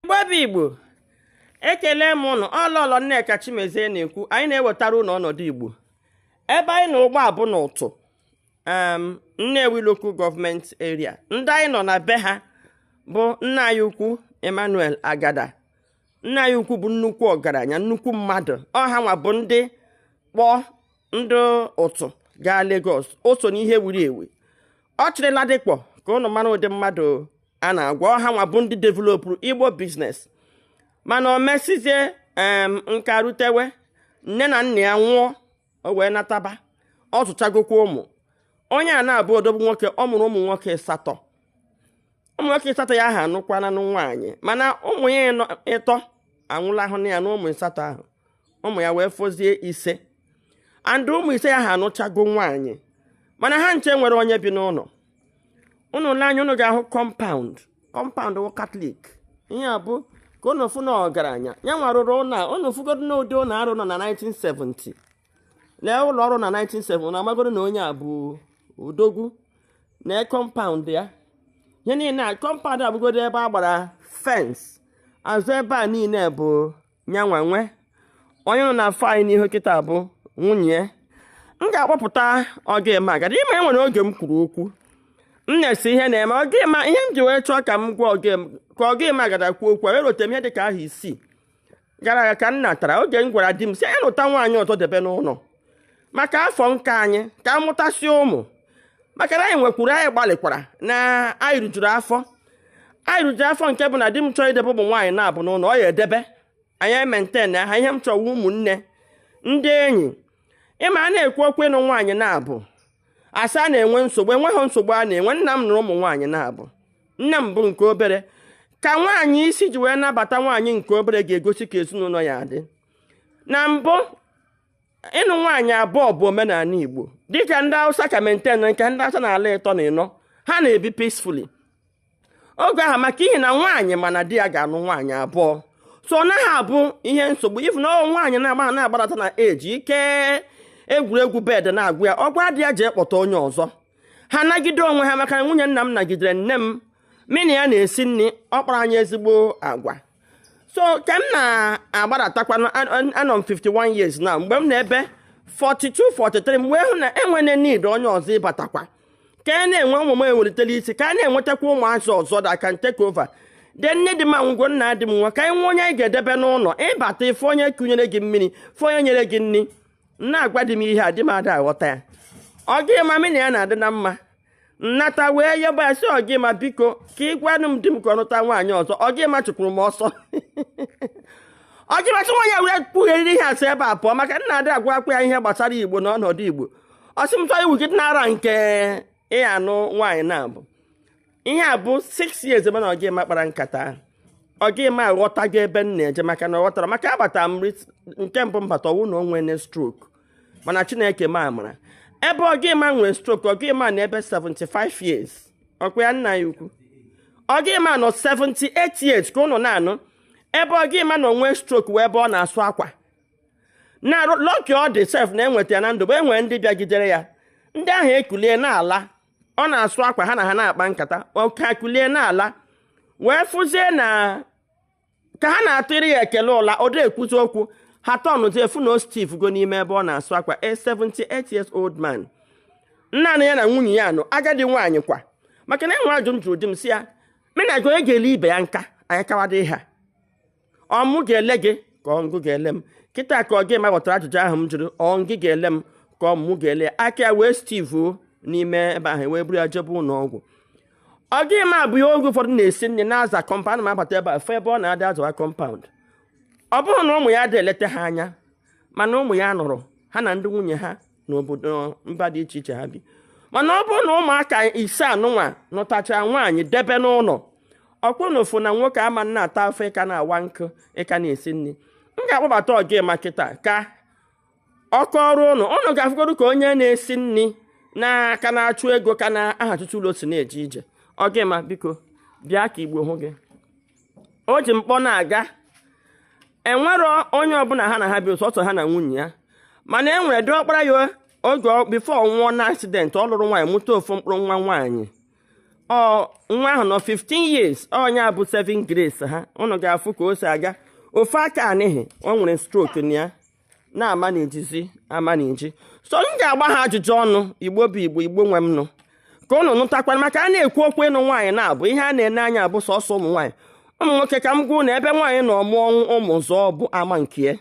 igbo bụ igbo ekele m ụnụ ọ lọlọ nneka chimezie na-ekwu anyị na-ewetara ụnụ ọnọdụ igbo ebe anyị nọ ugbu a bụ na utuh nnewi local government area ndị anyị nọ na be ha bụ nna anyị ukwu emmanuel agada nna anyị ukwu bụ nnukwu ọgaranya nnukwu mmadụ ọ hanwa bụ ndị kpọ ndị utuh gaa Lagos o so n'ihe wuru ewu ọ chịrị Ladipo ka ụnụ mara ụdị mmadụ a na-agwa ọ hanwa bụ ndị developụrụ igbo business mana o mesizie nka rutewe nne na nna ya nwụọ o wee nataba ọ zụchagokwa ụmụ onye a na-abụ odogwu nwoke ọ mụrụ ụmụ nwoke asatọ ụmụ nwoke asatọ ya ha anụkwana nwaanyị mana ụmụ ya ịtọ anwụlahụna ya na ụmụ asatọ ahụ ụmụ ya wee fọzie ise and ụmụ ise ya ha anụchago nwaanyị mana ha ncha enwero onye bi n'ụlọ ụnụ le anya ụnụ ga-ahụ compound compound wụ katọlik ihe a bụ ka ụnụ fụ na ọgaranya ya nwa rụrụ ụlọ a ụnụ fụgodo na ụdị ụlọ a rụrụ na 1970 lee ụlọ ọ rụrụ na 1970 na amagodo na onye a bụ odogwu na compound ya ihe niile a compound afụgodo ebe a gbara fence azụ ebe a niile bụ nyanwa nwe onye ụnụ na-afụ anya n'ihu kịta bụ nwunye ya m ga-akpọpụta ogema agada ịma e nwere oge m kwuru okwu m na-asị ihe na-eme ogema ihe m ji wee chọọ ka m gwa ka ogema agada kwuo okwu wee rote m ihe dị ka ahọ isii gara aga ka m natara oge m gwara di m si ya nụta nwaanyị ọzọ debe n'ụlọ maka afọ nka anyị ka a mụtasị ụmụ maka na anyị nwekwuru anyị gbalịkwara na anyị rijuru afọ anyị rijuru afọ nke bụ na di m chọọ idebe ụmụ nwaanyị naabọ n'ụlọ ọ ya-edebe anyị emaintain ha ihe m chọwa ụmụnne ndị enyi ịma a na-ekwu okwu ịnụ nwaanyị naabọ a sị a na-enwe nsogbu enweghị nsogbu a na-enwe nna m nụrụ ụmụ nwaanyị naabọ nne m bụ nke obere ka nwaanyị isi ji wee nabata nwaanyị nke obere ga-egosi ka ezinụlọ ya dị na mbụ ịnụ nwaanyị abụọ bụ omenala Igbo dịka ndị Hausa ka maintain nke ndị Hausa na-alụ ịtọ na ịnọ ha na-ebi peacefully oge ahụ maka ihi na nwaanyị ma na di ya ga-anụ nwaanyị abụọ so ọ naghị abụ ihe nsogbu ị fụ na nwaanyị na-agba na-agbarata na age ike egwuregwu bed na-agwụ ya ọ gwa di ya jee kpọta onye ọzọ ha nagide onwe ha maka nwunye nna m nagidere nne m mụ na ya na-esi nri ọ kpara anyị ezigbo agwa so ka m na-agbaratakwa anọ m 51 years now mgbe m nọ n'ebe 42 43 m wee hụ na enwere need onye ọzọ ịbatakwa ka a na-enwe ụmụ m ewelitela isi ka a na-enwetakwa ụmụazị ọzọ that can take over de nne dị ma ngwo nna di m nwa ka anyị nwee onye anyị ga-edebe n'ụlọ ị bata ị fụ onye kunyere gị mmiri fụ onye nyere gị nri na-agwa di m ihe a di m ada aghọta ya ogema mị na ya na-adị na mma m nata wee yọba ya sị ogema biko ka ị gwanụ m di m ka ọ nụta nwaanyị ọzọ ogema chụkwuru m ọsọ ogema sị nwaanyị a wee kwugheriri ihe a si ebe a pụọ maka na ada agwakwa ya ihe gbasara igbo na ọnọdụ igbo ọ sị m chọọ iwu gị nara nke ịya anụ nwaanyị naabọ ihe a bụ 6 years ebe na ogema kpara nkata ahụ ogema aghọtago ebe m na-eje maka na ọ ghọtara maka agbata m nke mbụ mbata ọ wụ na o nwene stroke mana chineke mee amara ebe ogema nwee stroke ogema nọ ebe 75 years ọ kwa ya nna ya ukwu ogema nọ 78 years ka ụnụ na-anụ ebe ogema nọ nwee stroke wụ ebe ọ na-asụ akwa na lucky ọ dị sef na enweta ya na ndụ bụ e nwere ndị bịagidere ya ndị ahụ ekulie n'ala ọ na-asụ akwa ha na ha na-akpa nkata ọ ka kulie n'ala wee fụzie na ka ha na-atụrụ ya ekele ụla ọ dị ekwuzi okwu ha tọnụzie fụ na ọ stiff go n'ime ebe ọ na-asụ akwa a 78 years old man naanị ya na nwunye ya nọ agadi nwaanyị kwa maka na e nwe ajụ m jụrụ di m sị ya mị na gị onye ga-ele ibe ya nka anyị kawado ha ọ mụ ga-ele gị ka ọ ngị ga-ele m kịta ka ogema ghọtara ajụjụ ahụ m jụrụ ọ ngị ga-ele m ka ọ mụ ga-ele aka ya wee stiff n'ime ebe ahụ e wee buru ya jebe ụlọ ọgwụ ogema bụ ya oge ụfọdụ na-esi nri na-aza kọmpaụnd m abata ebe a fụ ebe ọ na-adị azawa kọmpaụnd ọ bụrụ na ụmụ ya dị eleta ha anya mana ụmụ ya nụrụ ha na ndị nwunye ha n'obodo mba dị iche iche ha bi mana ọ bụrụ na ụmụaka ise anụnwa nụtacha nwaanyị debe n'ụlọ ọkpọnọ ofu na nwoke ama na-ata afụ ị ka na-awa nkụ ị ka na-esi nri m ga-akpọbata ogema kịta ka ọ kọọrọ ụnụ ụnụ ga-afụgodu ka onye na-esi nri na a ka na-achụ ego ka na aha tutu ụlọ si na-eje ije ogema biko bịa ka igbo hụ gị o ji mkpọ na-aga enwerọ onye ọbụla ha na ha bi ọ sọsọ ha na nwunye ya mana e nwere diọkpara ya oge before nwụọ na accident ọ lụrụ nwaanyị mụta ofu mkpụrụ nwa nwaanyị ọ nwa ahụ nọ 15 years ọ nya bụ saving grace ha ụnụ ga-afụ ka o si aga ofu aka a n'ihi o nwere stroke na ya na-ama njizi ama nji so m ga-agba ha ajụjụ ọnụ igbo bụ igbo igbo nwe m nụ ka ụnụ nụtakwara maka a na-ekwu okwu ịnụ nwaanyị naabọ ihe a na-ene anya abụ sọsọ ụmụ nwaanyị ụmụ nwoke ka m gwa ụnụ ebe nwaanyị nọ mụọ ọmụmụ zụọ bụ ama nke ya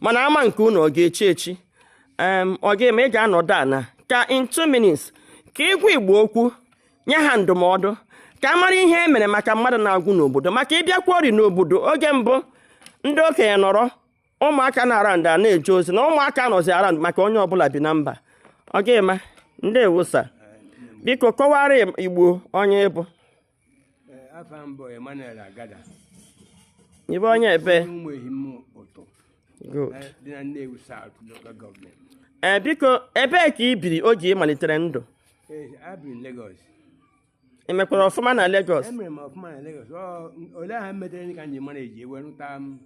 mana ama nke ụnụ ọ ga-echi echi ọ ga-eme ị ga-anọdụ ana ka in two minutes ka ị gwa igbo okwu nye ha ndụmọdụ ka a mara ihe e mere maka mmadụ na-agwụ n'obodo maka ịbịakwa ori n'obodo oge mbụ ndị okenye nọrọ ụmụaka nọ around a na-eje ozi na ụmụaka nọzi around maka onye ọbụla bi na mba ọ ga-adị mma ndeewo sir biko kọwara Igbo onye ị bụ ị bụ onye ebee biko ebee ka i biri oge ị malitere ndụ ị mekwara ọfụma na Lagos emere m ọfụma na Lagos ọ ole aha metere ka m ji mara eji wee rụta m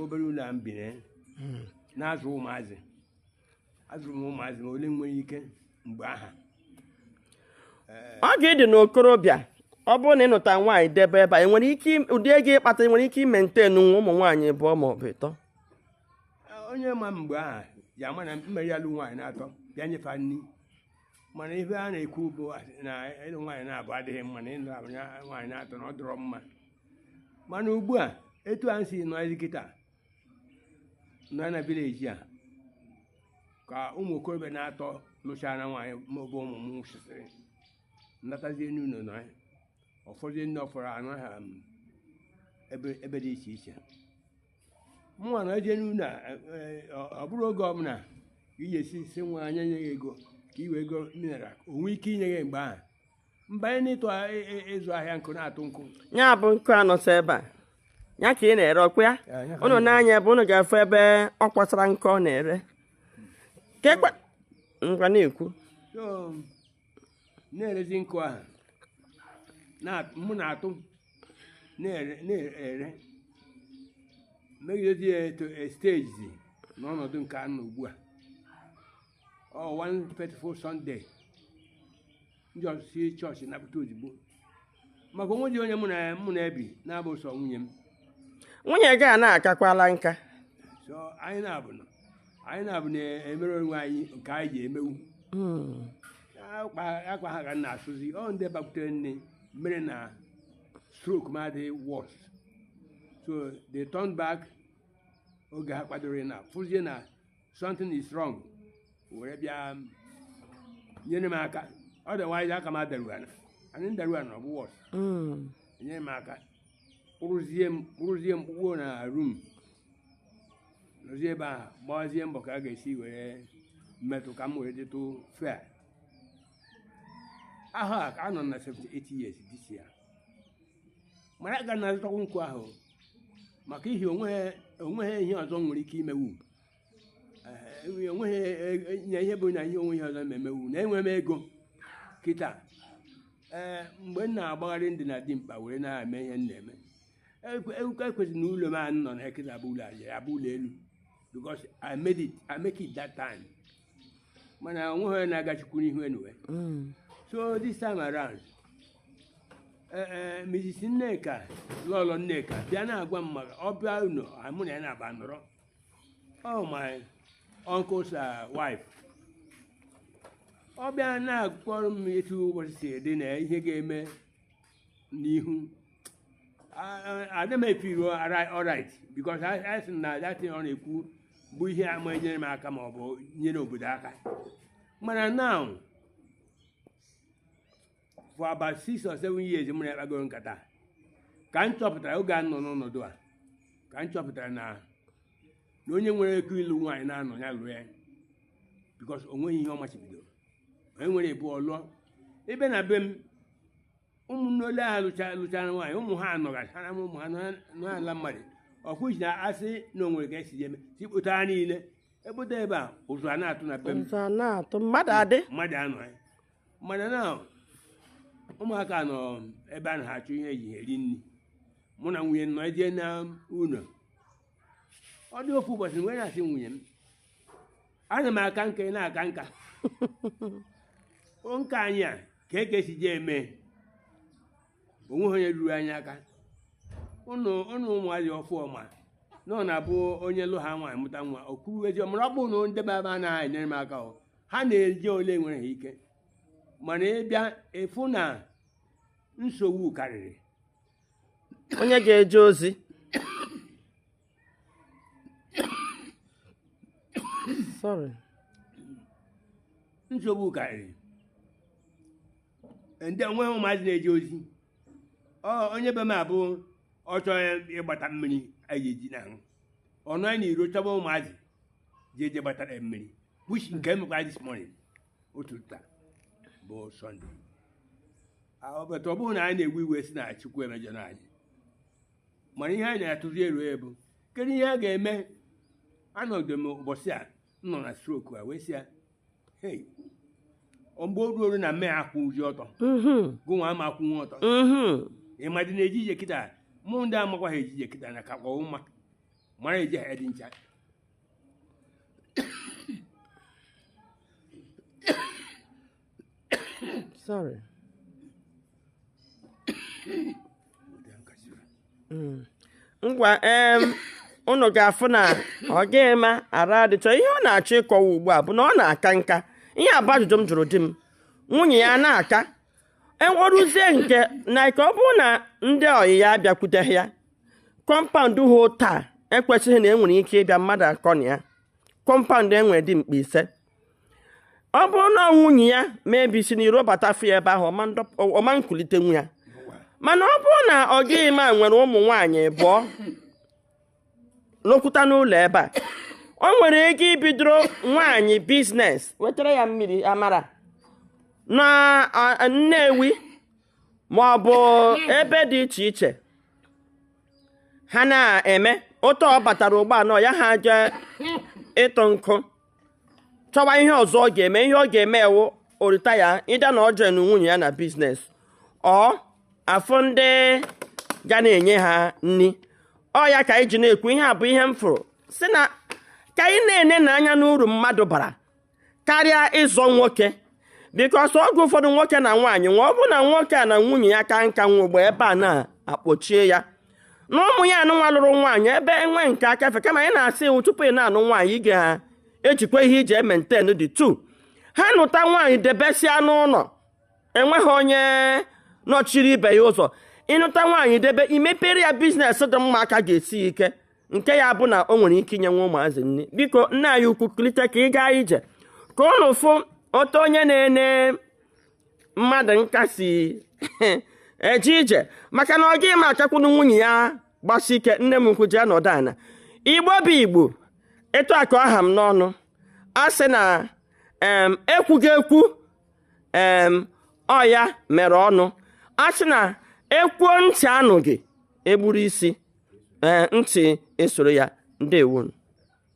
obere ụlọ a m bi na ya na-azụ ụmụazị azụrụ m ụmụazị ma ole m nwere ike mgbe aha oge ị dị n'okorobịa ọ bụrụ na ị nụta nwaanyị debe ebe a ị nwere ike im- ụdị ego ị kpata ị nwere ike ịmaintainwa ụmụ nwaanyị ịbụọ ma ọ bụ ịtọ onye ma mgbe aha ji ama na m mere alụ nwaanyị naatọ bịa nye fa nri mana ife a na-ekwu bụ na ịlụ nwaanyị naabọ adịghị mma na ịlụ abụ na- nwaanyị naatọ na ọ dọrọ mma mana ugbu a etu a si nọ kịta nọ na village a ka ụmụ okorobịa naatọ lụchara nwaanyị maọbụ ụmụ m nwụsịsịrị natazie n'ụlọ nọ ya ụfọdụ ndị ọ fọrọ anọ ha ebe ebe dị iche iche mụnwa na-eje n'ụlọ a, e, e, ọ ọ bụrụ oge ọbụla ka ị ga-esi sị nwaanyị nye gị ego ka i wee goo mineral o nwee ike inye gị mgbe ahụ m banye n'ịtụ a- e- e- ịzụ ahịa nkụ na-atụ nkụ ya bụ nkụ a nọsọ ebe a ya ka ị na-ere ọkwa ya Ya, ya ka ụnụ nee anya ebe ụnụ ga-afụ ebe ọ kwasara nkụ ọ na-ere Ka ekwe- ngwa na-ekwu sir na-erezi nkụ ahụ na- mụ na-atụ na-ere na-ere megidezi ya eruo stage n'ọnọdụ nke a nọ ugbu a ọ one faithful Sunday m jesisi chọọchị napụta ozugbo maka o nwezi onye mụ na mụ na-ebi na-abụ sọ nwunye m nwunye gị a na-akakwala nka so anyị naabọ nọ anyị naabọ na-emere onwe anyị nke anyị ji emewu Hmm. akwa akwa ha ka m na-asụzi ọ ndị bakwutere nne mere na stroke m adịghị worse so they turn back oge ha kwadoro na fụzie na something is wrong were bịa nyere m aka otherwise aka m adaru ana anyị m daru ana ọ bụ worse Mm. nyere m aka kpụrụzie m kpụrụzie m kpụkpuo na room nọzie ebe ahụ gbawazie mbọ ka a ga-esi were metụ ka m were dịtụ fair ahụ a ka anọ m na 78 years this year mana aga na-azụtakwu nkụ ahụ maka ihi onweghị onweghị ihe ọzọ m nwere ike imewu enweghị nye ihe bụ na ihe onwe ihe ọzọ na-emewu na enwere m ego kịta ee mgbe m na-agbagharị m dị na dimkpa were na-eme ihe m na-eme ewuka ekwesịrị na ụlọ m a nọ na kịta bụ ụlọ aja ya bụ ụlọ elu because I made it I make it that time mana onweghị onye na-aga Chukwu n'ihu anyway so this time around ee Mrs. Nneka lọlọ Nneka bịa na-agwa m maka ọ bịa ụlọ mụ na ya na-aba nọrọ oh my uncle's uh, wife ọ bịa na-akọrọ m etu ụbọchị si dị na ihe ga-eme n'ihu adị m efeel alright because a sị na that thing ọ na-ekwu bụ ihe ama enyere m aka ma ọ bụ nyere obodo aka mana now for about six or seven years mụ na-akpagoro nkata ka m chọpụtara oge a nọ n'ọnọdụ a ka m chọpụtara na na onye nwere ego ịlụ nwaanyị naanọ ya lụọ ya because o nweghị ihe ọ machibidoro onye nwere ego ọ lụọ ebe na be m ụmụnne ole ha lụcha- lụchara nwaanyị ụmụ ha anọgasị ha na ụmụ ha nọ ala mmadụ ọkụ ji na-asị na o nwere ka esi eme si kpụta ha niile ekpụta ebe a ụzụ a na-atụ na be m ụzụ a na-atụ mmadụ adị mmadụ anọ ya mana na ụmụaka nọ ebe a na-achụ ihe eji eri nri mụ na nwunye m nọ eje na ụlọ ọ dị ofu ụbọchị m wee na-asị nwunye m ana m aka nka ị na-aka nka o nka anyị a kee ka e si jee eme onweghị onye ruru anyị aka ụnụ ụnụ ụmụazị ọfụma na ọ na-abụ onye lụ ha nwaanyị mụta nwa o kuru ezi ọ mụrụ ọ bụrọ na ndị be m a anaghị enyere m aka o ha na-eji ole nwere ha ike mana ị bịa ị fụ na nsogbu karịrị onye ga-eje ozi sorry nsogbu karịrị ndị enweghị ụmụazị na-eje ozi ọ onye be m a bụ ọ chọọ ya ịgbata mmiri anyị eji na ahụ ọnụ anyị n'iro chọba ụmụazị je-eje gbatara ya mmiri which nke emekwa this morning otu taa bụ Sunday but ọ bụrọ na anyị na-ewe iwe sị na Chukwu emejọna anyị mana ihe anyị na-atụzi aro bụ kedu ihe a ga-eme anọdụ m ụbọchị a m nọ na stroke a wee sị ya mgbe o ruo na m ma akwụzi ọtọ mm-hmm. gụnwa ama akwụnwu ọtọ mm-hmm. ịmadị na-eje ije kịta mụ ndị amakwa ha eje ije kịta na ka kpọọ mma mara eji ha dị ncha sorry hmm. ngwa em unu ga-afụ na ọ gaghị ma ara adịchọ ihe ọ na-achọ ịkọwa ugbu a bụ na ọ na-aka nka ihe a bụ ajụjụ m jụrụ di m nwunye ya na-aka enweruzie nke na ka ọ bụrụ na ndị ọyị ya abịakwuteghị ya compound ha taa ekwesịghị na enwere ike ịbịa mmadụ akọ na ya compound e nwere dimkpa ise ọ bụrụ na nwunye ya maybe si n'iro bata fụ ya ebe ahụ ọ ma ekulite nwa ya mana ọ bụrụ na ọ gịghị ma nwere ụmụ nwaanyị abụọ lụkwuta n'ụlọ ebe o nwere ego ibidoro nwaanyị business wetara ya mmiri amara na nnewi ma ọ bụ ebe dị iche iche ha na-eme otu ọ batara ụgbọala ya ha jee ịtụ nkụ chọwa ihe ọzọ ọ ga-eme ihe ọ ga-eme wụ ọ retire either na ọ jee na nwunye ya na business or afụ ndị ga na-enye ha nri ọ ya ka anyị ji na-ekwu ihe a bụ ihe m fụrụ si na ka anyị na-ene anya n'uru mmadụ bara karịa ịzọ nwoke because oge ụfọdụ nwoke na nwaanyị nwa ọ bụ na nwoke a na nwunye ya kaa nka nwee ebe a na-akpọchie ya na ụmụ ya anụ nwa lụrụ nwaanyị ebe enwe nke aka efe kama anyị na-asị iwu tupu ị na-anụ nwaanyị ị ga-ejikwa ihe i ji e-maintain the two ha nụta nwaanyị debesịa n'ụlọ enweghị onye nọchiri ibe ya ụzọ ị nụta nwaanyị debe i mepere ya business dị mma aka ga-esi ike nke ya bụ na o nwere ike inye ụmụazị nri biko nna anyị ukwu kulite ka ị gaa ije ka ụnụ fụ otu onye na-ene mmadụ nka si eje ije maka na ọ gị ma akakwunu nwunye ya gbasi ike nne m ukwu jee nọdụ ana igbo bụ igbo etu a ka ọ ha m n'ọnụ a sị na ekwughị ekwu ọ ya mere ọnụ a sị na e kwuo ntị anụghị e gburu isi ntị esoro ya ndewonu